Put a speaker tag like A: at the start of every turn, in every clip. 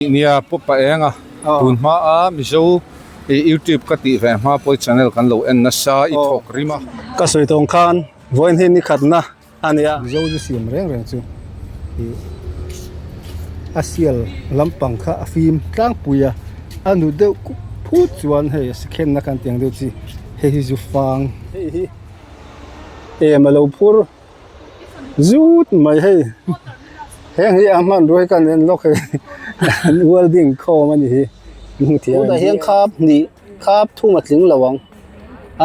A: Nia pawh pah eng a, tun hma a Mizo i YouTube ka tih ve hma pawh i channel kan lo en nasa i thawk rim a. Ka sawi tawng khan
B: vawiin hi nikhatna a ni a. Mizo zu siam reng reng chu i a sial lampang kha a fim tlangpui a, a nu deuh kup phut chuan hei a sikhenna kan tih ang deuh chi hei hi zu fang hei hi em a lo phur. zut mai hei heng hi a hman ruai ka nen lawk hei welding khawm a ni hi kan hmu thei a tunah hian khap hnih khap thum a tling lo ang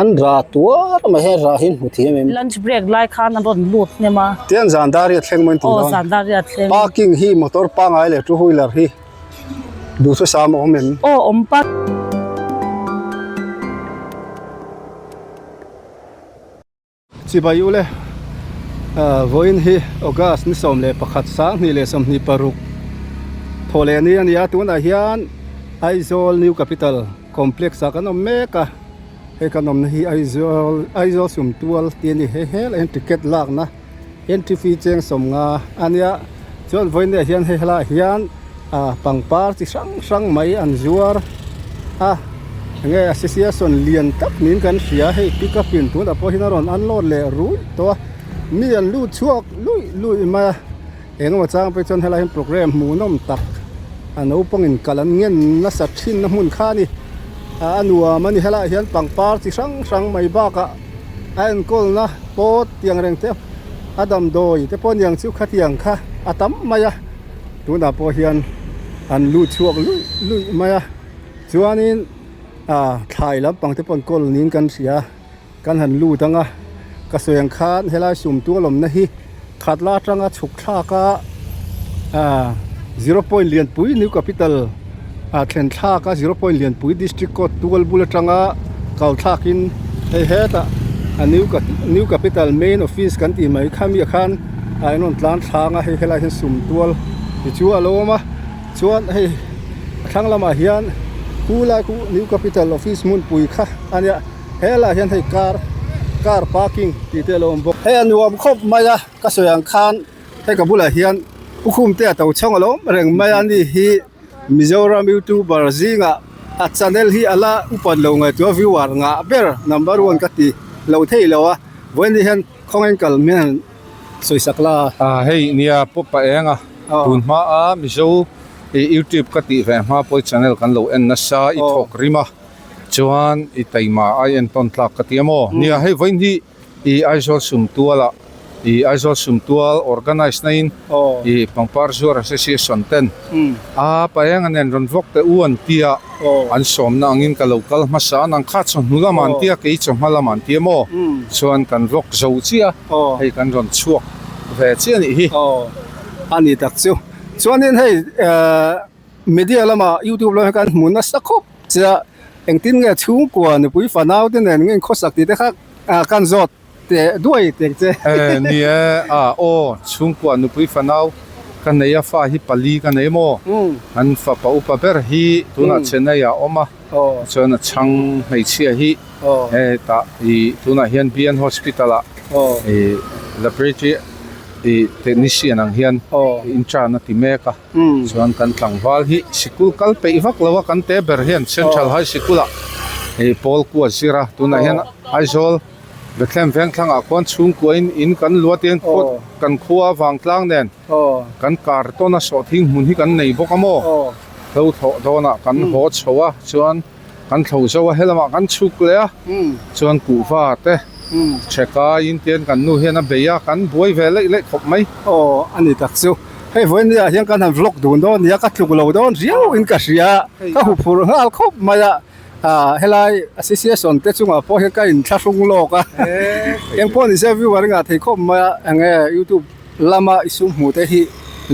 B: an ra tuar mai hei ra hi hmu thei em em lunch break lai khan an
C: rawn lut hnem a tiah an zan dar hi a thleng
B: mai tur a aw zan dar hi a thleng parking
C: hi motor
B: pangai leh two wheeler hi duhthusam a awm awm em aw awm pat. Chibai u le. Vawiin hi August ni sawm leh pakhat, Sanghnih leh sawmhnih paruk thaw leh ni a ni a, tunah hian Aizawl New Capital Complex ah kan awm mek a, hei kan awmna hi Aizawl Aizawl Sumtual tih a ni. Hei hel aihin ticket lakna. Entry-fee cheng sawmnga a nia chuan vawinia hian hei helaiah hian ah pangpar chi hrang hrang mai an zuar a enge a sisia sawn lian tak niin kan hria a hei pick up in tunah pawh hian a rawn unload leh rul tawh a mi an lut chhuak luih luih mai a eng emaw chang pawh hi chuan helai ah hian programme hmuhnawm tak a naupang in kal an ngen nasa thinna hmun kha a ni ah a nuam a ni helaiah hian pangpar chi hrang hrang mai bakah-- a enkawlna pawt tiang reng te a damdawi te pawh niang chu khatiang kha a tam mai a, tunah pawh hian an lut chhuak luih luih mai a, chuanin aah thlai lampang te pawn kawl niin kan hria, kan han lut anga ka suang khan helai sum tualawmna hi. Khat la atanga chhuk thlak a zero point lianpui new capital a thlen thlak a zero point lianpui district court tual bul atanga kal thlak in hei hetah a new new capital main office kan tih mai kha mih khan a in rawn tlan thlâng a hei khilai ah hian sum tual te chu a lo awm a chuan hei a thlang lamah hian khu lai khu new capital office hmunpui kha a nia. he lah hian hei car car parking tih te a lo awm bawk hei a nuam khawp mai a ka sawi ang khan hei ka bulah hian khukhum te a to chhawng a lo awm reng mai a ni hi mizoram youtuber zingah a channel hi a la upat lo ngaihtuah a viewer ngah ber number one ka ti lo thei lo a vawin ni hian khawng a inkal mai a han sawi sak la a hei
A: nia paw pah eng a tun hma a mizo youtube ka tih ve hma pawh i channel kan lo en nasa i thawk rim a. Chuan i taima ai en tawn tlak ka ti a maw? Nia, hei vawiin hi i Aizawl sumtuala i Aizawl sumtual organise naiin i pangpar zuar association ten a paeng an en rawn vawk teh u an tia, an sawmna angin ka lo kal hmasa a, nang kha chawhnu lam an tia kei chawhma lam an ti a maw? Chuan kan vawk zo chiah a, hei kan rawn chhuak ve chiah a nih hi. Aw, a ni
B: tak chu. Chuanin hei. Media lama YouTube lama kan hmu nasa khawp che a, engtin nge chhungkua nupui fanau te nen ngin khawsak ti te kha kan zawt teh duai tek che. Eh ni e,
A: ah aw, chhungkua nupui fanau ka nei a fa hi pali ka nei maw? An fapa upa ber hi tunah Chennai ah a awm a, chuan a chhang hmeichhia hi hetah i tunah hian BN Hospital ah i laboratory i technician ang hian i inṭan a ti mek a. Chuan kan tlangval hi sikul kal peih vak lo a kan te ber hian Central High Sikul ah hei pawl ku a zir a tunah hian Aizawl Bethlehem Vengthlang ah khuan chhungkua in in kan luah tia in khaw kan khaw a Vangtlang nen kan kar tawn a sawhthing hmun hi kan nei bawk a maw hlo thlawh dawn ah kan haw chho a chuan Kan thlo zo a, helamah kan chhuk leh a, chuan kuhva te che kaiin tian kan nu hian a bei a, kan buai ve leih leih khawp mai. Aw a ni tak
B: chu, hei vawiin ah hian kan han vlog dun dawn nia, ka tluk lo dawn riau in ka hria, ka hu phur nghal khawp mai a, helai association te chungah pawh hian ka in thla hrung lawk a, eng pawh ni zia view a ringah thei khawp mai a, eng nge youtube lama i sum hmuh te hi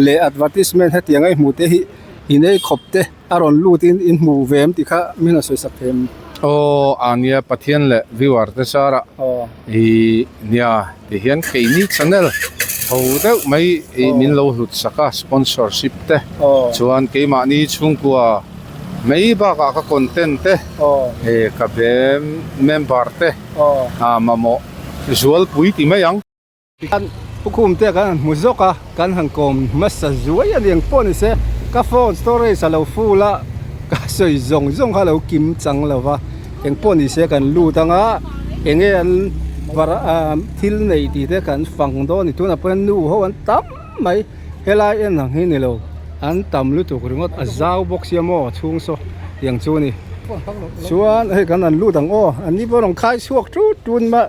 B: leh advertisement hetiang ei hmuh te hi i nei khawp te. A rawn lut in in hmuh ve em ti kha min a sawi sak thei em. Aww a nia
A: Pathian leh viewer te sara i nia ti hian keini channel tho deuh mai i min lo hlut sak a sponsorship te chuan keimahni chhungkua mai bakah ka content te ka be member te mamawh zualpui ti mai ang. Kan
B: pukhum te kan han hmu zawk a, kan han kawm hmasa zuai a niang pawh ni se, ka phone storage a lo full a, ka sawi zawng zawng kha a lo kim chang lo va, eng pawh ni se kan lut ang a, eng nge an thil neih tih te kan fang dawn a ni, tunah pawh hian nu ho an tam mai, helai en ang hi ni lo, an tam lutuk ringawt, a zau bawk sia maw a chhung saw tiang chu a ni, chuan hei kan han lut ang aw, an ni pawh an rawn khai chhuak tut tut mah.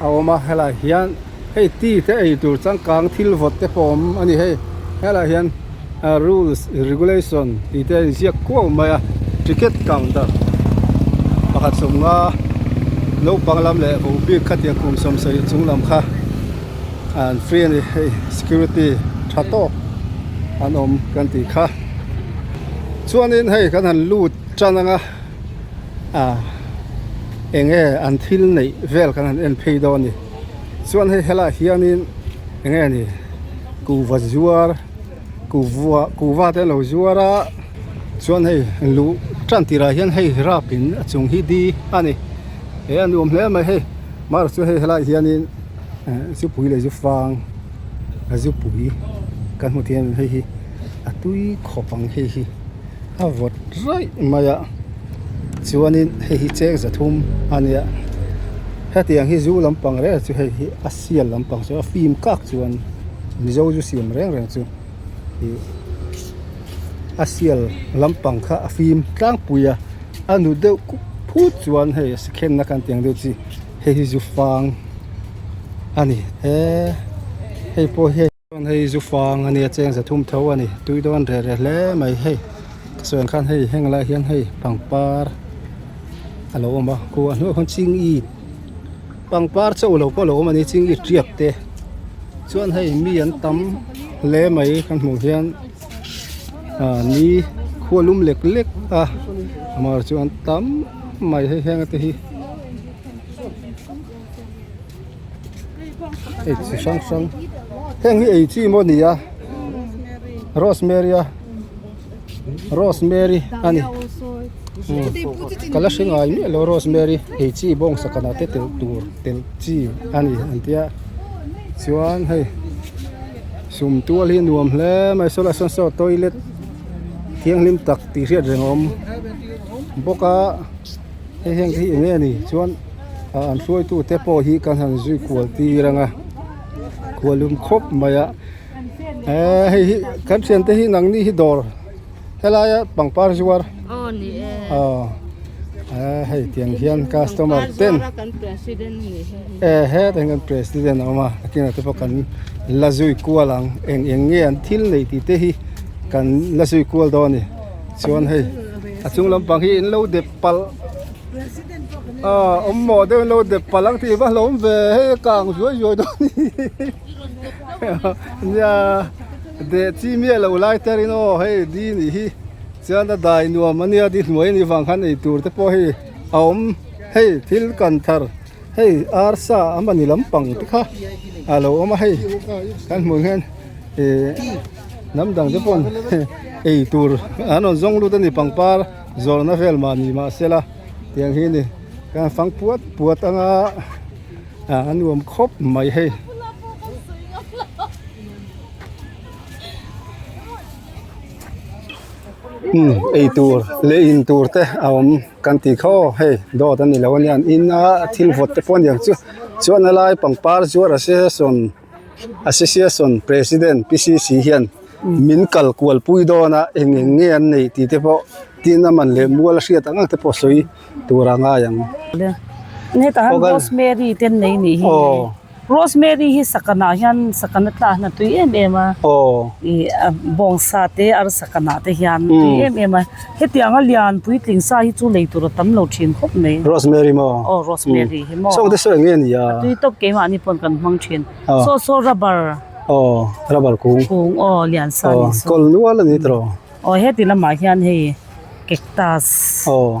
B: A awm a, helaiah hian hei ti te ei tur changkang thil vawt te pawh awm a ni hei. Helaiah hian rules regulation tih te a inziak kuau mai a. Ticket counter pakhat sawm nga naupang lam leh ho bik kha tiang kum sawm sawi chung lam kha an free a ni. Hei security tha tawk an awm kan tih kha. Chuan in hei kan han lut tan ang a. a enge an thil neih vel kan han en phei dawn a ni chuan hei hela hianin enge a ni kuhva zuar kuhva kuhva te an lo zuar a chuan hei luh tan tir ah hian hei rap in a chung hi di a ni he a nuam hle mai hei mahro chu hei helai hianin eh zupui leh zufang zupui kan hmu thei a ni hei hi a tui khawp ang hei hi. a vawt raih mai a chuanin hei hi cheng zathum a nia hetiang hi zu lampang reng reng chu hei hi a sial lampang chu a fim kak chuan mizo chu siam reng reng chu ih a sial lampang kha a fim tlangpui a a nu deuh phut chuan hei a sikhenna kan tih ang deuh chi hei hi zufang a ni e hei pawh hian-- Chuan hei zufang a nia cheng zathum tho a ni tui dawn reh reh hle mai hei ka sawi ang khan hei heng lai hian hei pangpar a lo awm a khu a hnuaiah khan ching i pangpar chauh lo pawh a lo awm a ni ching i tiap te chuan hei mi an tam hle mai kan hmuh hian ah ni khualum lek lek a amah erawh chu an tam mai hei heng te hi. ei chi hrang hrang heng hi ei chi maw nia rosemary a rosemary a ni kala hre ngai miah lo rosemary ei chi bawng sakana te telh tur telh chi a ni ang tia chuan hei sum tual hi nuam hle mai saw la sawn saw toilet thianghlim tak tih hriat reng a awm bawk a. Hei hian ka hi enge a ni chuan an hruaitu te pawh hi kan han zui kual tir ang a kual lum khawp mai a eee hei hi kan thian te hi nang ni hi dawr helai a pangpar zuar aw ni e aw eee hei tiang hian customer ten ehe hei kan president a awm a a kinah te pawh kan la zui kual ang eng eng nge an thil nei tih te hi kan la zui kual dawn a ni. Chuan hei a chung lampang hi in lo dep palh a awm maw deuh in lo dep palh ang tih va hlawm ve hei a kang zuai zuai dawn ni nia deh chi miah loh lai te rin aw hei di nih hi chuan a dai nuam ania di hnuai a nih vang khan eitur te pawh hei a awm hei thil kan thar. hei arsa amahni lampang te kha a lo awm a hei kan hmuh ang hian ihh hnam dang te pawh ei tur an rawn zawng lut a ni pangpar zawrhna vel mah ni mah se la tiang hi a ni khan fang puat puat anga ah a nuam khawp mai hei. Kan tih kha aw hei dawt a ni lo anian in a thil vawt te pawh a ni ang chu chuan a lai pangpar zuar a se sawn a se sia sawn president PCC hian min kal kual pui dawn a eng eng nge an neih tih te pawh tin a man leh mual a hriat ang ang te pawh sawi tur a ngai ang.
C: Heta han Rosemary ten nei nih hi. Rosemary hi sakana hian sakana tlakna tui em em a i a bawng sa te arsakana te hian tui em em a hetiang a lian puitling sa hi chu lei tur a tam lo thin khawp mai Rosemary maw aw
B: Rosemary hi maw
C: chhawng te sawi ang nge nia a tui
B: tawp keh mahni pawn
C: kan hmang thin saw saw rubber aw rubber
B: kung kung aw lian sa
C: ni saw kawl nual a ni tawh
B: aw heti lamah
C: hian hei cactus aw.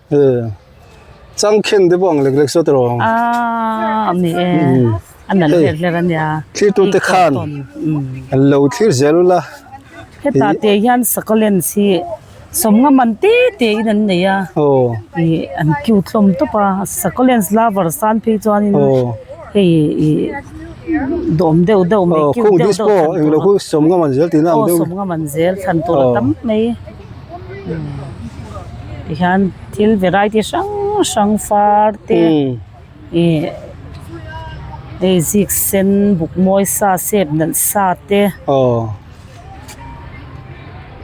C: e
B: chang khen te pawh ang lek lek zawt a rawh a a ni
C: e a nalh hler hler a nia thlir tu te khan
B: an lo thlir zel la heta
C: te hian sakolen si sawmnga man te te in an nei a aw i an cute hlawm tawp a sakolen lover san phei chuan in aw hei i dawm deuh deuh mai cute deuh deuh aw khung this pawh eng lo
B: hu sawmnga man zel tihna ang deuh aw sawmnga man zel thlan
C: tur a tam mai. tihian thil variety hrang hrang far te ih hei zik sen bukmawi sa sep nalh sa te aw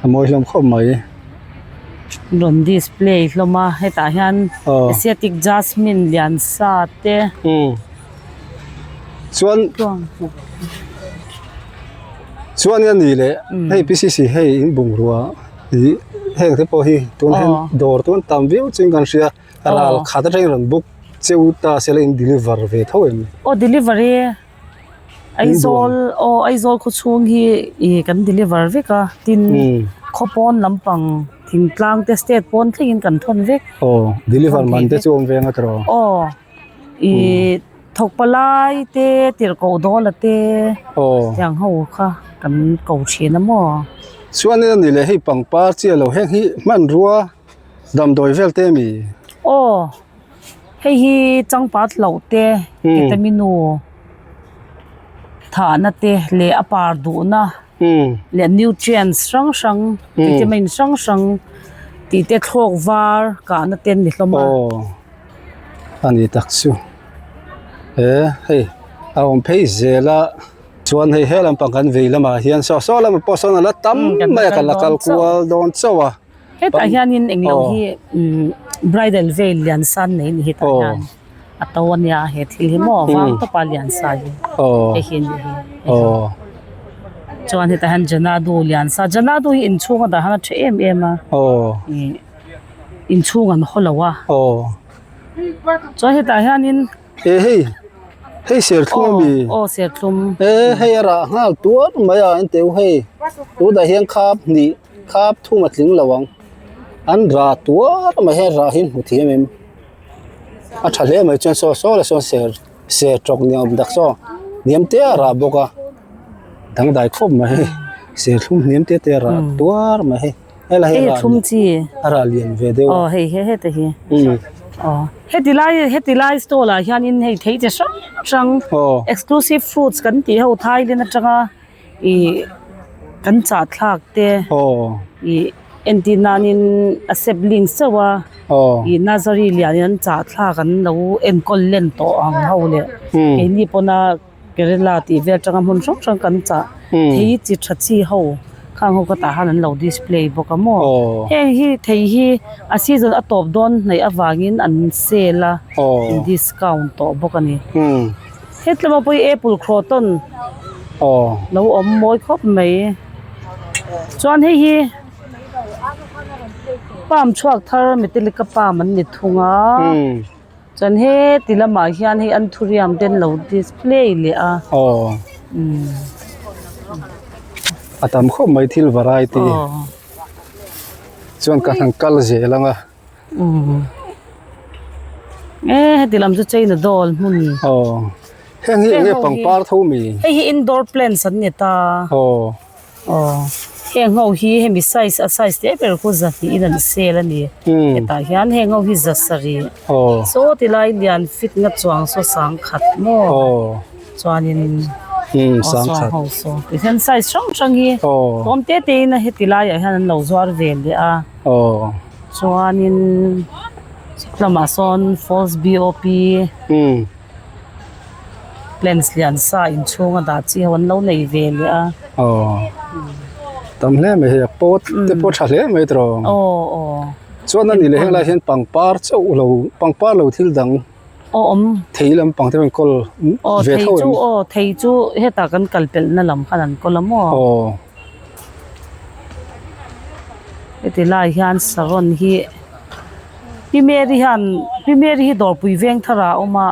B: a mawi hlawm khawp mai
C: an rawn display hlawm a hetah hian asiatic jasmine lian sa te. chuan
B: chuan i a ni leh hei PCC hei in bungrua ih heng te pawh hi tunhen dawr tûn tam viau chin kan hria a ral khat atangin rawn book cheu ta se la in deliver ve tho em aw delivery
C: Aizawl aw Aizawl khawchhung hi ih kan deliver vek a tin khaw pawn lampang thingtlang te state pawn thlengin kan thawn vek aw deliver man
B: te chu awm veng a tawh aw. I thawk
C: pa lai te tirh koh daw la te tiang ho kha kan ko thin a maw. Chuanin a nih
B: leh hei pangpar chiah lo heng hi hmanrua damdawi vel te mi? Aw
C: hei hi changpat hloh te ketaminu thahna te leh a par duhna leh nutrients hrang hrang vitamin hrang hrang tih te thlawk var kahna te an ni hlawm a. Aw
B: a ni tak chu he hei a awm phei zel a chuan hei he lampang kan vei lamah hian saw saw lama pawh sawn a la tam mai a ka la kal kual dawn chauh a. Hetah hianin
C: eng lo hi bridal veil lian san nei ni hetah hian a to a nia he thil hi maw vang tawpa lian sa hi hei hi ni hi chuan hetah hian janadu lian sa janadu hi inchhung a dah hang a ṭha em em a inchhung an haw lo a chuan hetah hianin e hei
B: hei serthlum a mi aw serthlum
C: e hei a rah
B: nghal tuar mai a engteu hei tûtah hian khâp hnih. Kha phum a tling lo ang. An ra tuar mai he ra hi hmu thiam em? A tha hle mai chuan saw saw la sawn ser ser tawk ni awm tak saw hniam te a ra bawk a, dangdai khawp mai hei, serthlum hniam te te a ra tuar mai hei. Hela hi ra ni a ra
C: lian ve
B: deuh a. Hei he heta hi.
C: Hetilai hetilai stall ah hian in hei thei chi hrang hrang exclusive foods kan tih ho thailand atanga. I kan chah thlak te i entir nan in a sibling seuh a i nursery lian in an chah thlak an lo enkawl len tawh ang ho le kei ni pawn a Kerala tih vel atanga hmun hrang hrang kan chah thei hi chi tha chi ho khang ho khatah khan an lo display bawk a maw heng hi thei hi a season a tawp dawn hnaih avangin an sale a an discount tawh bawk a ni. He tlemapuii apple krawtawn lo awm mawi khawp mai. Chuan hei hi palm chhuak thar metallica palm an ni thung a. Chuan he ti lamah hian hei an thuriam te an lo display leh a.
B: A tam khawp mai thil variety chuan ka han kal zel ang a.
C: Aww Ehh heti lam chu chaina doll hmun ni Aww
B: Heng hi enge pangpar tho mi Hei hi indoor plants
C: an ni ta Aww Aww Heng ho hi hemi size a size hle ber chu za hnihin an sell a ni hetah hian heng ho hi za sarih Aww Saw ti lai lian fit na chuang saw sang khat maw Aww chuanin Aww
B: sang khat Aww saw saw tihian
C: size hrang hrang hi awm te te in heti laiah hian an lo zuar ve leh a. Aww. Chuanin sawt lamah sawn falls BOP plans lian sa in chhunga dah chi ho an lo nei ve leh a. Aww. Tam
B: hle mai hi a pot te pawh tha hle mai tawh. Aww aww. Chuan a nih leh helai hian pangpar chauh lo pangpar lo thil dang aww awm thei lampang te pawh an kawl ve theuh em. Aww thei chu aww thei chu
C: hetah kan kalpelh na lam khan an kawl a maw. Aww. heti lai hian saron hi pi mary hian pi mary hi dawrpui veng thar ah a awm a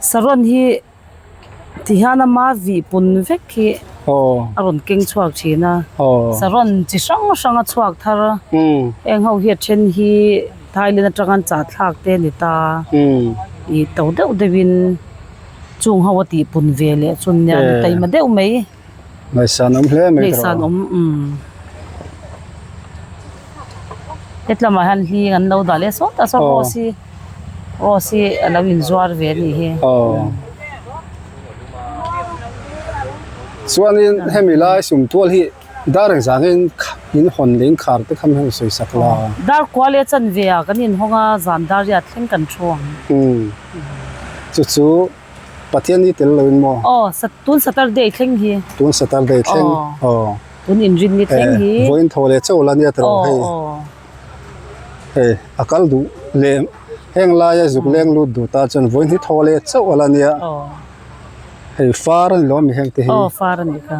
C: saron hi ti hian a ma vi pun vek hi a rawn keng chhuak thin a saron chi hrang hrang a chhuak thar a heng ho hi a then hi thailand atanga an chahthlak te a ni ta ih to deuh deuh in chung ho a tihpun ve leh chun nen a ni taima deuh mai. Hmeichhian
B: awm hle mai tawh. Hmeichhian awm umm.
C: Hetlama hian hling an lo dah leh sawt ta saw rose hi rose hi a lo in zuar ve a nih hi.
B: Chuanin hemi lai sum tual hi dar eng zang in in hawn leh in khar te kha min sawi sak la. Dar kua leh
C: chanve ah kan in hawng a zan dar hian a thleng kan thu ang. Umm chu chu.
B: Pathian hi tel loin maw? Aw, tun Saturday
C: thleng hi. Tun Saturday thleng?
B: Aw. Tun
C: inrin ni thleng hi. Eh, vawiin tho leh chauh la nia
B: tawh ang hei. Aw, aw. Hei, a kal duh leh heng laia zuk leng lut duh ta chuan vawiin hi tho leh chauh la nia. Aw. Hei, far a ni lo a mi heng te hi. Aw, far a ni kha.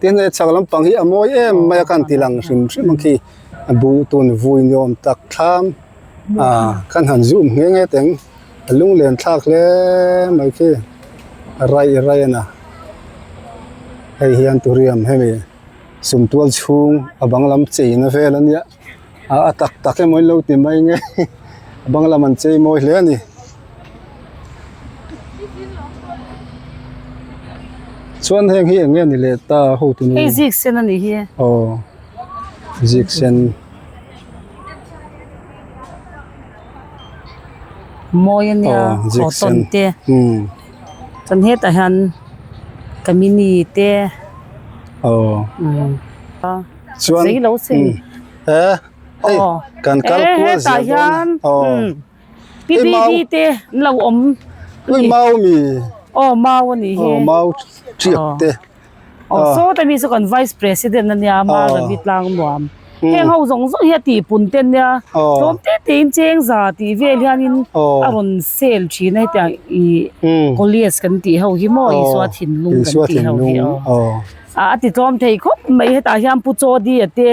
B: Tin, he chak lampang hi a mawi em mai a kan ti lang hrim hrim ang khi, a duh tun vui ni awm tak thlam a kan han zum nghe nghe teng, a lunglen thlak hle mai khi a raih raih a na. Hei hian Turiam hemi sumtual chhung a bang lam cheina vel a nia. a tak tak emaw in lo ti mai nge a bang lam an chei mawi hle a ni chuan heng hi eng nge a ni leh ta ho tunu hei ziksen a ni hi e
C: aw
B: ziksen
C: mawi a nia cotton te chuan hetah hian kamini te aw.
B: chuan zai lo se ni
C: he hei
B: kan kal kual zia dawn
C: pi bi bi te an lo awm pui mau mi
B: aw mau a
C: nih hi aw mau chiak
B: te aw saw
C: te mi chu kan vice president a nia ma ravi tlang nuam heng ho zawng zawng hi a tih pun te nia tlawm te te in cheng za tih vel hian in a rawn sell thin a hetiang ih college kan tih ho hi maw isua thinlung kan tih ho hi aw. a a titlawm thei khawp mai hetah hian pu chawdia te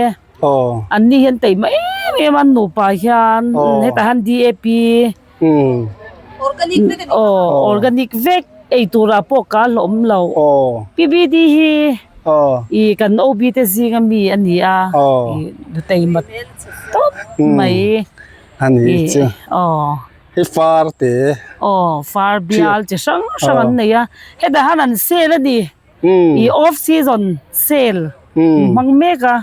C: an ni hian tei mai em em an nupa hian hetah hian DAP aw organic vek ei tura pawh ka hlawm lo PBD hi i kan OB te zinga mi a ni a i tei mat tawp mai a ni
B: chu aw i far te aw far
C: bial chi hrang hrang an nei a hetah hian an sale a ni. i off season sale in hmang mek a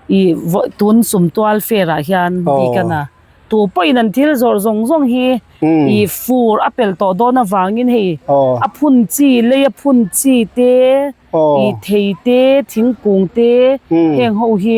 C: i vawi tun sum tual fair ah hian bikan a tu pawh in an thil zawrh zawng zawng hi i fur a pel tawh dawn avang in hei a phun chi lei a phun chi te i thei te thingkung te heng ho hi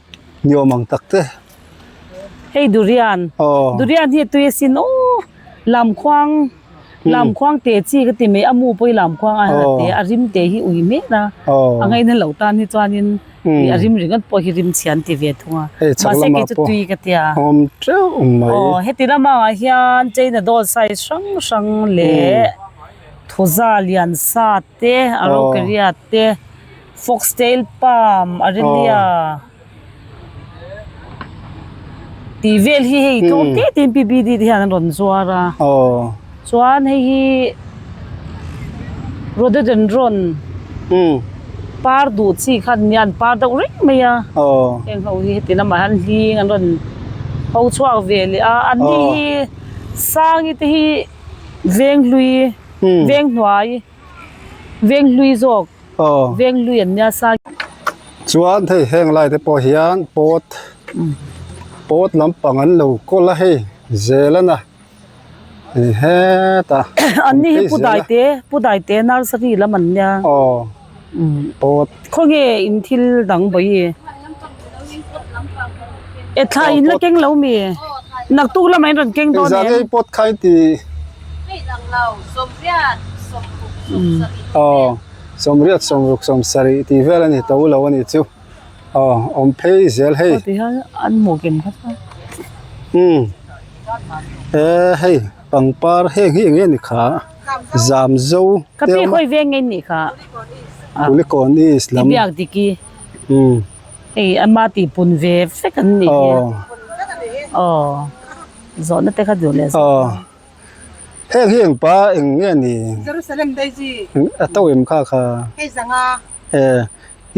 B: Ni awm ang tak te. Hei
C: durian. Aww. Durian hi tui a sin aw. Lamkhuang lamkhuang te chi ka ti mai amu pawh hi lamkhuang a la te a rim te hi ui mek a. Aww. A ngaih na lo tan hi chuanin a rim ringawt pawh hi rim chhian ti ve thung a. Hei chak lamah pawh. Mahse kei chu tui ka ti a. Awm teuh mai.
B: Aww heti lama
C: hian China doll size hrang hrang leh thuza lian sa te a ropariat te Foxtail palm a ri ni a. Tih vel hi hei tlawm teh tehin PBD te hian an rawn zuar a. Chuan hei hi Rhododendron par duh chi khan nia, an par deuh reng mai a. Heng ho hi heti lamah hian hling an rawn ho chhuak ve leh a. An ni hi sangi te hi venghlui, venghnuai. Veng hlui zawk veng hlui an nia sa. Chuan
B: hei heng lai te pawh hian pawt pawt lampang an lo kawl a hei zel a na ni hetah an ni hi pu
C: daite pu daite nursery lam an nia.
B: Khaw nge
C: in thil dang bawi e. E thlai in la keng lo mi e. Naktuk lamah in rawn keng dawn em. Engzah nge i pawt kha i ti?
B: Aw, sawmriat sawmruk sawmsarih tih vel a ni to lo a nih chu. Aw, awm phei zel hei. Aw, ti hian an hmuh
C: kem khat a. Umm.
B: E hei pangpar heng hi enge ni kha? zam zo te awm a
C: Puhlikawng
B: east
C: lam aw
B: heng hi engpa eng nge ni
D: a to em kha
B: kha
D: e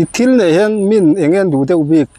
B: i thil neih hian min eng nge an duh deuh bik.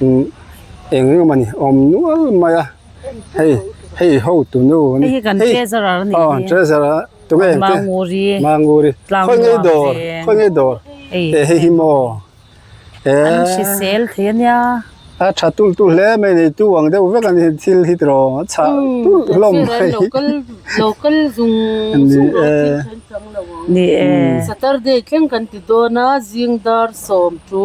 B: eng eng mawni a awm nual mai a hei hei ho tunu hei hi kan treasure a
C: ni tih treasure a
B: tukverh ang te manguri manguri khawi ngei dawr khawi ngei dawr hei hei hi maw he
C: an hrisel thei a nia a tha tul
B: tul hle a mai neitu ang deuh vek a ni thil hi tawrh awm a chhah tulh hlawm mai local
E: local zung zung lo a thil hrang hrang lo
C: ang ni e saturday
E: thleng kan ti dawn a zingdar sawm chu.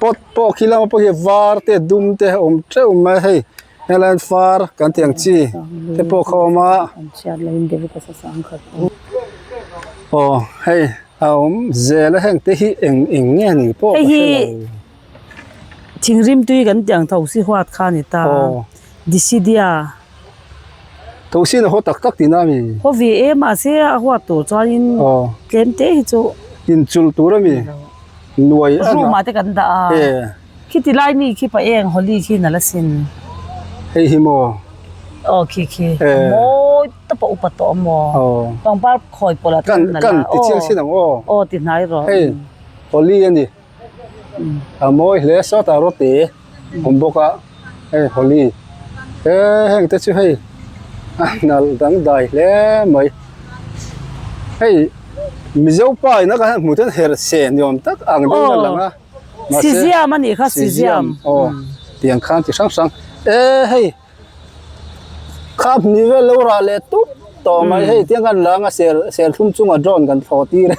B: pot pawh khi lama pawh hi var te dum te a awm teuh mai a hei helian far kan tih ang chi te pawh kha a awm a
C: aw
B: hei a awm zel a heng te hi eng eng nge ni pawh ka hre
C: lo thingrimtui kan tih ang tho si huat kha a ni ta decidia .
B: Thawhsin a haw tak tak tina mi? Haw ve e, mahse
C: a huat tur chuanin tlem te hi chu. Inchulh tur a
B: mi? Nuai a na. Rumah te kan
C: dah a. E. Khi ti lai mi khi pah eng Holi khi na la sin. Hei hi
B: maw? Aw khi khi.
C: E. Mawi ta pawh upa tawh a maw? Aw. Pangpar khawi pawh lah tlem na la. Kan kan ti chiang sin
B: ang aw. Aw ti hnai rawh.
C: Hei Holi
B: a ni. a mawi hle sawt a roti awm bawk a hei holi he heng te chu hei a hnal dangdai hle mai hei mizo pa in atang hian hmuh theih hian herhseh ni awm tak ang deuh in a lang a mahse siziam a
C: nih kha siziam siziam aw tiang
B: khan chi hrang hrang e hei. Kha hmui vel lo rah leh tûp tawh mai hei tiang khan langa sel serthlum chunga drone kan thlawh tir a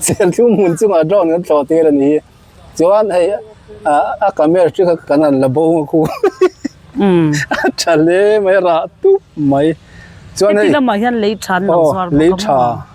B: serthlum hmun chunga drone kan thlawh tir a ni hi chuan hei a camera ṭi kha kan han la bo a khu a ṭha hle mai rah tûp mai chuan hei heti lamah hian lei ṭhan an lo zuar
C: bawk a maw.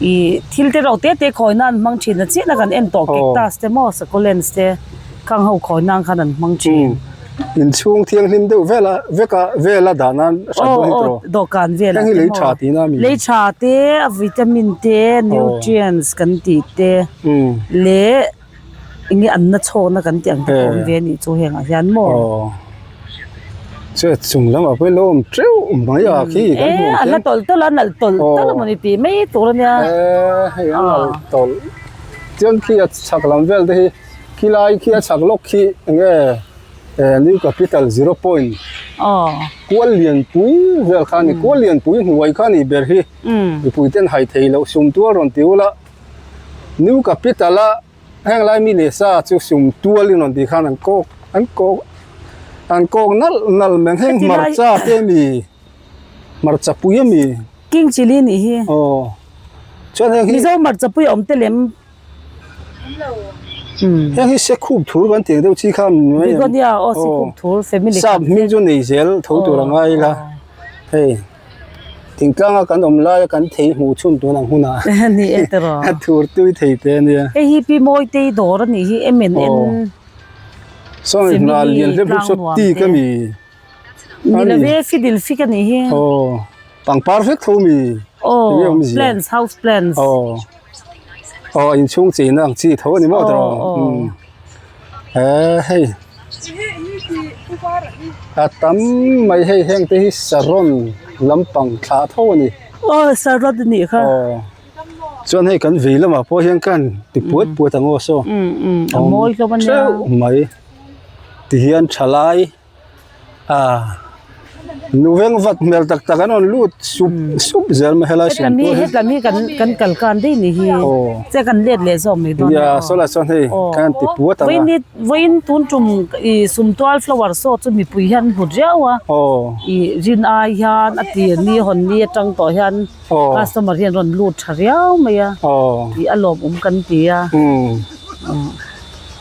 B: Ih, thil te reuh te
C: te khawina an hmang thin a, chiahna kan en tawh cactus te maw, succulents te kang ho khawina khan an hmang thin.
B: In chhung thianghlim deuh vela veka vela dan a hran dawn hi tawh.
C: Dawhkan velah te maw. Heng hi lei tha tih na a ni. Lei
B: tha te, vitamin te, nutrients
C: kan tih te leh. Enge anna chhawkna kan tih ang te pawh awm ve a nih chu hengah hian maw?
B: Aw, chhuat chung lam a pelawm teuh mai a khi kan hmuh ang khian. E, a la tawlh
C: tawlh a, a nalh tawlh tawlh a maw ni tih mai tur a nia. E, hei a nalh tawlh.
B: Tiang khi a chhak lam vel te hi, khi lai khi a chhak lawk khi enge new capital zero point kual lian pui vel kha a ni. Kual lian pui hnuai kha a nih ber hi, mipuite'n hai thei loh sum tual rawn ti ula. New Capital a heng lai mi leh sa chu sum tualin rawn tih khan an kawk an kawk an kawk nalh nalh mai
C: ang heng hmarcha te a mi hmarcha pui a mi King Chili a nih hi aw
B: chuan heng hi Mizo hmarcha pui a awm
C: te lem awm lo
B: heng hi Sekhup thur kan tih ang deuh chi khan mai ang Begonia aw
C: Sekhup thur family khat te Sap hming chu nei zel tho tur a ngai ila
B: hei. Thingtlanga kan awm laia kan thei hmuh chhun tûn ang
C: hunah Ni e tawrh a. a thûr tui thei tê
B: nia. Hei hi pi Mawitei dawr
C: a nih hi, MNN Aw.
B: Sawi Simili hna lian hle buk saw ti ka mi.
C: Ni lo e, Fidil Fik a nih hi. Aw,
B: pangpar vek tho mi. Aw, Enge
C: awm zia? Plants, house plants. Aw, aw inchhung cheina ang chi tho a ni maw tawrh? Aw, aw.
B: eee hei a tam mai hei heng te hi saron
C: lampang thla tho a ni aw saron a nih kha aw chuan hei kan
B: vei lamah pawh hian khan ti puat puat ang aw saw
C: a mawi hlawm a nia theuh mai tihian tha lai.
B: ah nu veng vak hmel tak tak an rawn lut sup sup zel mai helai
C: sawm tu hi hetlem hi kan kan kal kan daih ni hi che kan let leh zawk mai dawn nia
B: sawilah chuan hei kan ti puat ang a vawiin vawiin tun tum i sum tual flower saw chu mipui
C: hian an hlut riau a i rin ai hian a tir ni a hawn ni atang tawh hian customer hian an rawn lut tha riau mai a tih a lawmawm
B: kan ti a.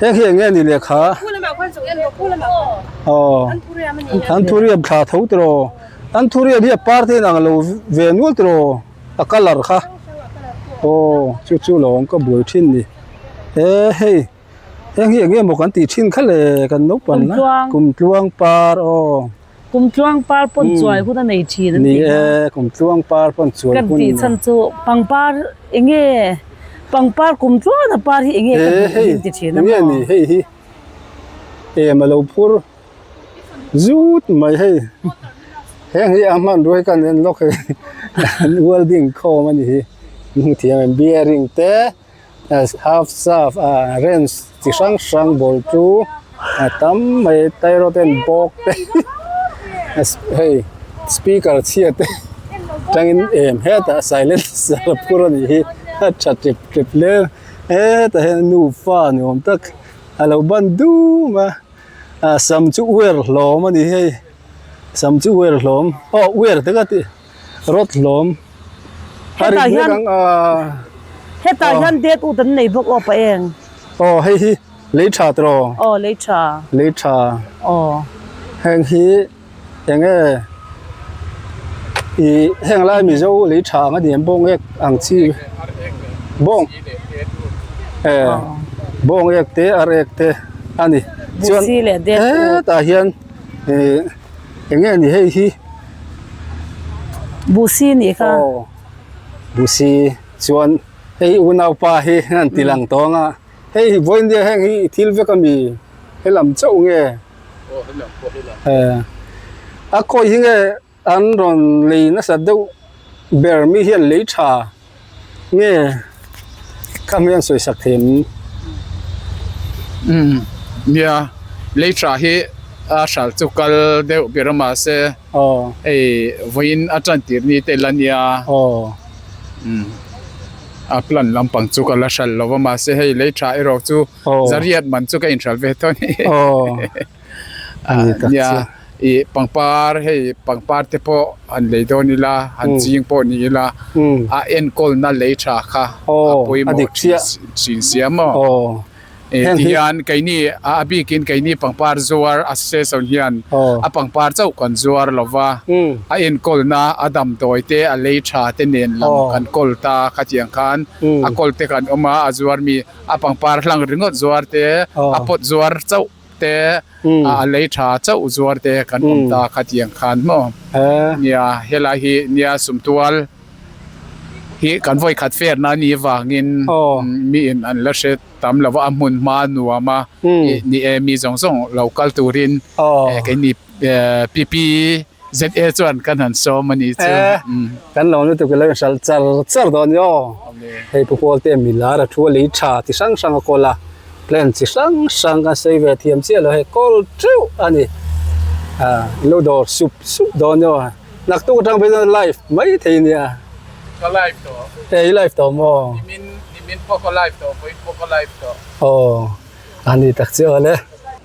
B: Heng hi enge ani lekha? Aw, an thuriam thla tho tiro. An thuriam hi a par te in ang lo ve nual tiro, a colour kha.
C: Aw, chu chu lo awm ka buai thin ni. He hei, heng hi enge maw kan tih thin kha le kan naupang na? Kum tluang par aw. Kum tluang par pawn chuai hun a nei thin an tih a. Ni e, kum
B: tluang par pawn chuai hun. Kan tih chhan chu pangpar
C: enge, pangpar kum tluana par hi enge ka duh hi an ti thin a maw. Enge ni hei hi, em a lo phur
B: zut mai hei. Heng hi a hman ruai kan en lawk hei, welding khawm a ni hi, hmu thiam em, bearing te. half chaf a range chi hrang hrang bul chu a tam mai tai reuh ten bawk te hei speaker chhia te tang in em het a silencer a phur a nih hi a tha tip tip hle hetah hian nufa ni awm tak a lo ban dum a a sam chu uer hlawm a ni hei
C: sam chu uer hlawm aw uer tak a ti. Rawthlawm a ri hlek ang a. Hetah hian date ut an nei bawk aw pa eng.
B: Aw hei hi Leiṭha tawh aw. Aw Leiṭha.
C: Leiṭha. Aw. Heng hi eng nge
B: i heng lai Mizo Leiṭha ang a ni em bawng ngek ang chi bawng e
C: bawng ek te ar ek te a ni chuan hetah hian
B: ihh. Enge a ni hei hi?
C: Busi a nih kha. Aw, Busi chuan hei unaupa hi an ti lang tawng a. Hei hi
B: Vawiindia heng hi i thil vek a mi? Helam chauh nge? Aw, helam pawh helam. Aw. A khawi hi nge an rawn lei nasa deuh ber mi hian lei tha. Nge kham hian sawi sak thei em? Umm nia, Leiṭha hi a hral chu kal deuh ber a mahse hei vawiin a ṭantir ni te ila nia. Umm a plant lampang
A: chu ka la hral lo a mahse hei Leiṭha erawh chu Zariat man chu ka inhral ve tawh a ni. nia i pangpar hei pangpar te pawh han lei dawn ila han ching pawh ni ila a enkawl na lei tha kha a pawimawh thin sia maw tihian keini a bikin keini pangpar zuar a si se chon hian a pangpar chauh kan zuar lova a enkawl na a damdawi te a lei tha te nen lam kan kawl ta khatiang khan a kawl te kan awm a a zuar mi a pangpar hlang ringawt zuar te a pawt zuar chauh te a lei tha chauh zuar te kan awm ta kha tiang khan maw nia helai hi nia sumtual hi kan vawi khat fer na ni vang in mi in an la hre tam lo va a hmun hma nuam a ni e mi zawng zawng lo kal tur in kei ni PP ZA chuan kan han sawm a nih chu. Kan lo lutuk i lo inhral char char dawn i aw. Hei pu pawl te mi
B: lar a thu a lei tha ti hrang hrang a kawl a, plan chi hrang hrang kan sawi ve thiam chiah lo hei kawl teuh a ni. I lo dawr sup sup dawn i aw.
A: Naktuk atang pawh hian live mai thei a nia. Ka live tawh. E i live tawh maw?
B: Nimin pawh ka live
A: tawh, pawiin pawh ka live tawh. Aw,
B: a ni tak chiah awle.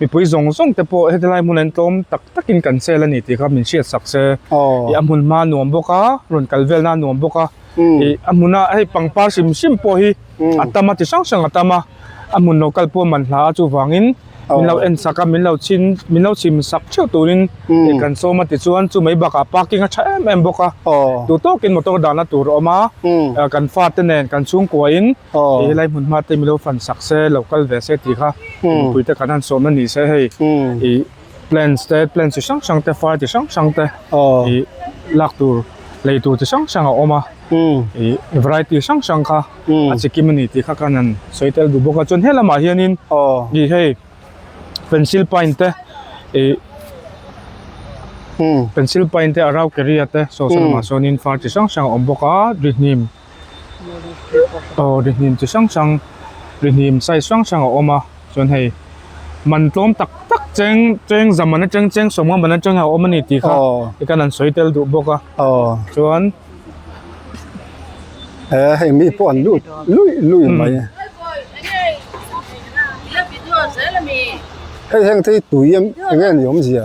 F: mipui zawng zawng te pawh heti lai hmuna in tlawm tak tak in kan sel a ni tih kha min hriat sak se ih a hmun hma nuam bawk a rawn kal vel na nuam bawk a ih a hmuna hei pangpar hrim hrim pawh hi a tam a ti hrang hrang a tam a a hmun lo kal pawh man hla a chuvang in min lo en sak a min lo chhin min lo chhim sak theuh tur in ih kan sawm a ti chuan chu mai bakah parking a tha em em bawk a duh tawk in motor dah na tur a awm a kan fate nen kan chhungkua in ih helai hmun hma te mi lo fan sak se lo kal ve se tih kha Pumpuite khan han sawm ani se hei i plants te plants chi hrang hrang te fai chi hrang hrang te i lak tur lei tur chi hrang hrang a awm a i variety hrang hrang kha a chi kim ani tih kha khan an sawi tel bu bawk a chuan helamah hianin i hei pencil paint te i pencil paint te arau keria te saw salamah sawnin far chi hrang hrang a awm bawk a rihnim. aw ri hnim chi hrang hrang ri hnim size hrang hrang a awm a chuan hei man tlawm tak tak cheng cheng zamana cheng cheng sawmnga man atanga a awm a ni tih kha i khan an sawi tel duh bawk a chuan
B: he heng mi pawh an lut luih luih mai a hei heng te hi tui em eng nge ni awmzia.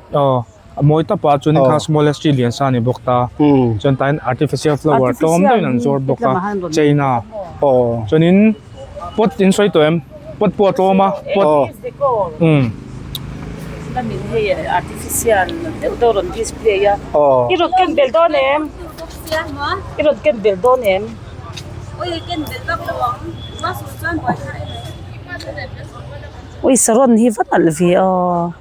F: Aw, a mawi ta pawh a chuan in kha smallest chi lian sa a ni bawk ta. Chuan tain artificial flower tlawm deuhin an zuar bawk a, chain a. Chuan in pot in sawi tawh em? Pot pawh a tlawm a.
C: Awisa rawn hi va nalh ve a.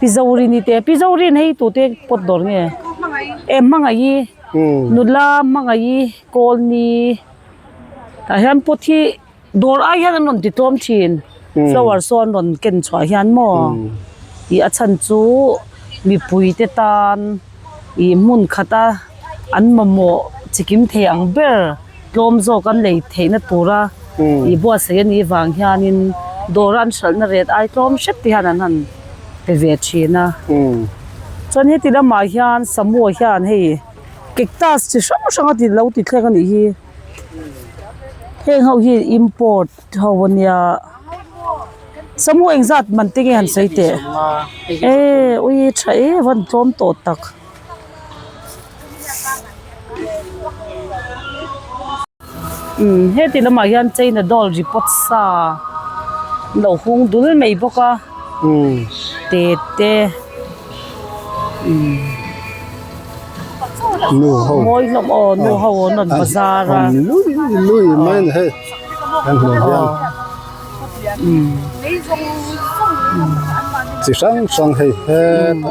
C: Pizauri ni te pizauri an hei tute pawt dawr nge e hmangaih i nula hmangaih i kawlni ah hian pot hi dawr ai hian an rawn ti tlawm thin flower saw an rawn ken chhuah hian maw tih a chhan chu mipui te tan-- ih hmun khat a, an mamawh chi kim thei ang ber tlawm zawk an lei theihna tura ih buatsaih a nih vang hianin dawra an hralhna ret ai tlawm hret te hian an han pe ve thin a. Chuan heti lamah hian Samoa hian hei cactus chi hrang hrang a ti lo ti thleng a nih hi, heng ho hian import Ho a nia. Samu engzat man tinge han sawi teh? E ui tha e van tlawm tawh tak. Umm heti lamah hian China doll ri pawt sa lo hung dul mai bawk a. Te te umm.
B: Nuho. Mawi hlawm aw nuho
C: an rawn bazar a. Awm lui lui
B: mai nihei. Kan hmuh hian chi
C: hrang hrang hei
B: heta.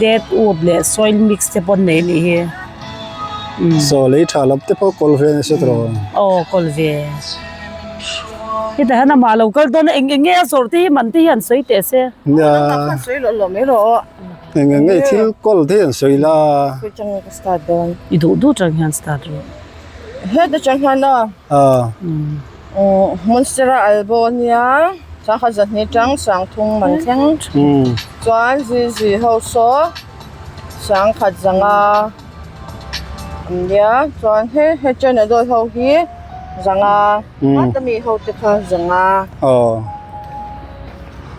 C: Dead wood leh soil mix te pawh an nei anih hi.
B: Saw lei tha lam te pawh kawl ve a ni sa tawh. Aw kawl ve.
C: Heta hian amah lo kal dawn a, eng eng nge a zawrh te hi man te hi an sawi teh se. Nia. Nangmah khan sawi
B: loh loh mai
E: rawh aw. Eng eng nge i
B: thil kawl te hi an sawi la. Khawi chang nge ka
E: start dawn. I duh duh chang hian
C: start rawh. Heta
E: chang hian a. Aw. Monastera albo a nia thla kha zan hi tang sang thung man thleng chuan zui zui ho saw sang khat zanga an nia chuan he he china dawi ho hi zanga heta mi ho te kha zanga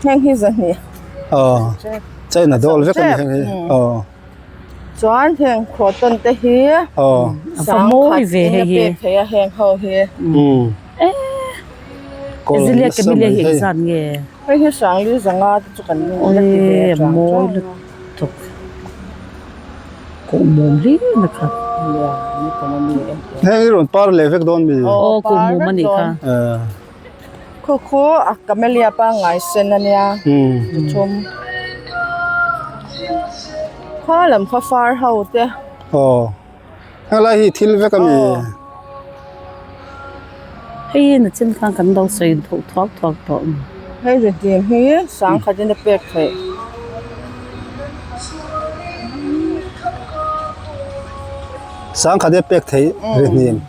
E: heng hi zan ni
B: china dawl vek a ni heng hi.
E: Chuan heng khuah tawn te hi sang
C: khat in a pek theih a heng ho
E: hi.
C: Hei hi sang li
E: za nga te chu kan
C: la ti ve a tang
B: chuang chuang.
E: Khu khu a camellia pangngai sen ania chi thum kha lam kha far ho te aw
B: hala hi thil vek ani
C: hei in a chin khan kan lo sawi thawh thawk thawk tawh hei ze
E: tih hi sang khat in a pek theih
B: sang khat in a pek theih ri hnim.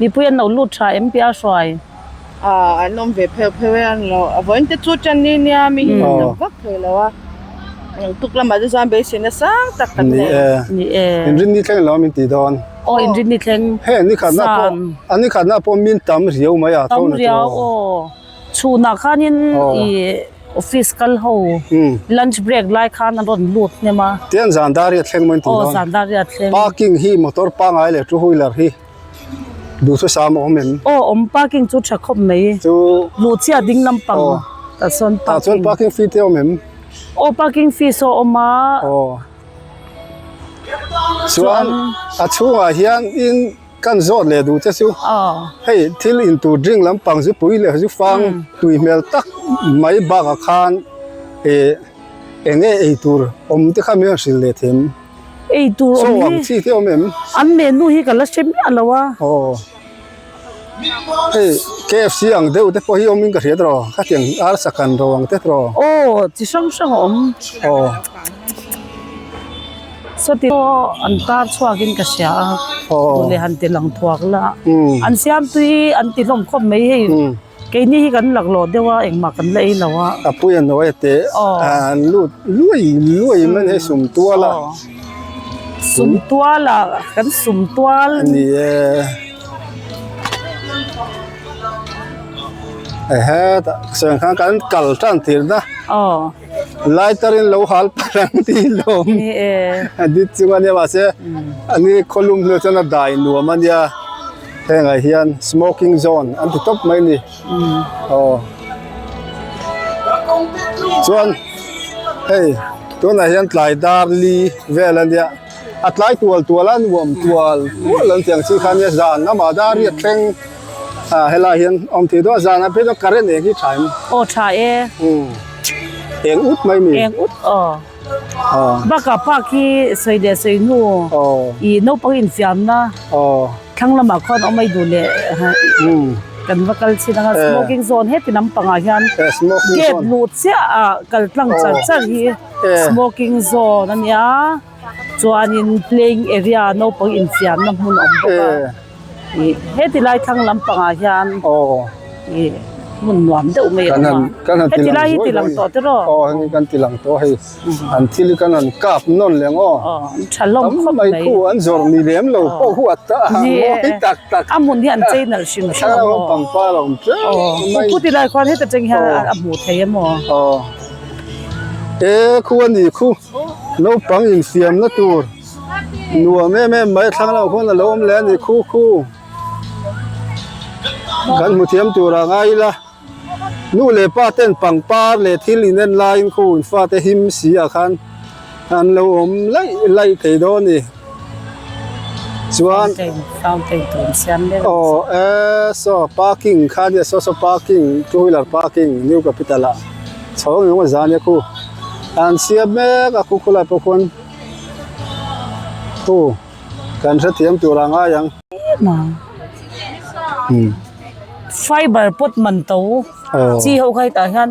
C: Mipui an lo lut tha em piah hruai. Ah an
E: awm ve pheuh pheuh e an lo. A vawiin te chu ṭan ni nia mi hi an tam vak thei lo a. Eng tuk lamah te chuan beisin a sang tak tak nei e. Ni e.
C: In rit ni thleng lo
B: min ti dawn. Aw in rit ni thleng.
C: Heng ni khatna pawh
B: an ni khatna pawh min tam riau mai a. Tam riau aw.
C: Chhunah khanin i office kal ho lunch break lai khan an rawn lut hnem a. Tiang zan dar hi a thleng
B: maw in ti dawn. Aw zan dar hi a thleng. Parking
C: hi motor
B: pangai leh two wheeler hi duh thlu sa maw awm em. Aw awm parking chu tha
C: khawp mai. Chu. Luhchhiah
B: ding
C: lampang tah chuan parking. Tah chuan parking fee te
B: awm em. Aw parking
C: fee saw a awm a. Aw
B: chuan a chhungah hian in. Kan zawt leh duh che chu. Hei thil in tur drink lampang zu pui leh zu fang tui hmel tak mai bak ah khan eh eng nge ei tur awm te kha mian hrilh leh thin ei tur
C: awm ang chi te awm
B: em? An menu hi ka la
C: hre miah lo a. Aw
B: hei KFC ang deuh te pawh hi awm in ka hriat rawh khatiang arsa kan ro ang te trawh. Aw chi hrang
C: hrang a awm. Aw. Saw ti pawh an tar chhuakin ka hria a, tun leh han ti lang thuak la. An siamtu hi an ti hlawm khawp mai hei, keini hi kan laklawh deuh a, engmah kan la ei lo a. Apuia hnuaia
B: teh an lut luai luai em an hei sum tual a. Sum
C: tual a, kan sum tual. A ni
B: e. Aw. Aw. Lai tar in lo hal phar ang tih in lo awm a dit chung a nia mahse an i khaw lum hnu ah chuan a dai nuam a nia heng ah hian smoking zone an ti tawp mai a ni aw chuan hei tunah hian tlai dar li vel a nia. A tlai tual tual a, nuam tual tual an tih ang chi khan nia, zan amah da a riat thleng a, helai hian awm thei dawn a, zan a pe dawn current eng hi tha em? Aw tha e.
C: Umm
B: eng ut mai mi. Eng ut aw. Aw.
C: Baka park hi sawi leh sawi hnu ih naupang infiamna thlang lamah khawn awm ai duh leh kan va kal chhin ang a, smoking zone heti lampang ah hian gate luh chiah ah kal tlang char char hi. smoking zone a ni a chuanin playing area naupang infiamna hmun a awm bawk a ih heti lai thlang lampang ah hian ih hmun nuam deuh mai a awm a heti lai
B: hi tilang tawh
C: te rawh aw hemi kan tilang
B: tawh hei an thil hi kan rawn kap nawn leh ang aw aw an tha hlawm
C: khawp mai tam mai khu an zawrh ni
B: lem lo pawh huat ta a ni e mawi tak tak a hmun hi an chei
C: nalh hrim hrim ang aw thlang lam pangpar a awm
B: tlem mai aw pu
C: tilai khuan heti atang hian a hmuh theih em aw aw. e
B: khu a ni khu naupang infiam na tur nuam em em mai thlang lamah khuan alo awm leh a ni khu khu kan hmu thiam tura ngai ila nu leh pa ten pangpar leh thil in en laiin khu infa te him si ah khan-- An lo awm laih laih thei dawn ni chuan fountain tun
C: siam ber awm si a
B: aw so parking kha nia so so parking two wheeler parking new capital ah chhawng engemaw zan nia khu an siam mek a khu khawlai pawh khawn khu kan hrethiam tur a ngai ang em a
C: fiber pawt man tho chi ho khai tah hian.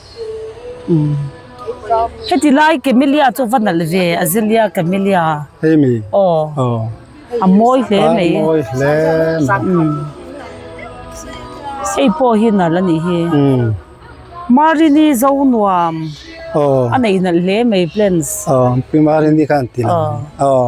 C: Heti lai camellia chu va nalh ve azalea camellia hei mi aw
B: aw
C: a mawi hle mai a mawi hle
B: mai umm
C: hei pawh hi nalh a nih hi umm marini zo nuam aw a neih nalh hle mai plants aw pi marini
B: kha an ti lo aw.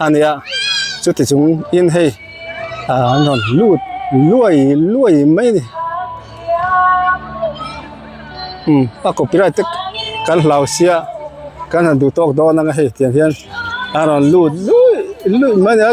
B: A nia, chuti chung in hei ahh an rawn lut luai luai mai a ni, umm a copyright te kan hlauhsia kan han duh tawk dawn ang a hei tiang hian an rawn lut luih luih mai a ni a.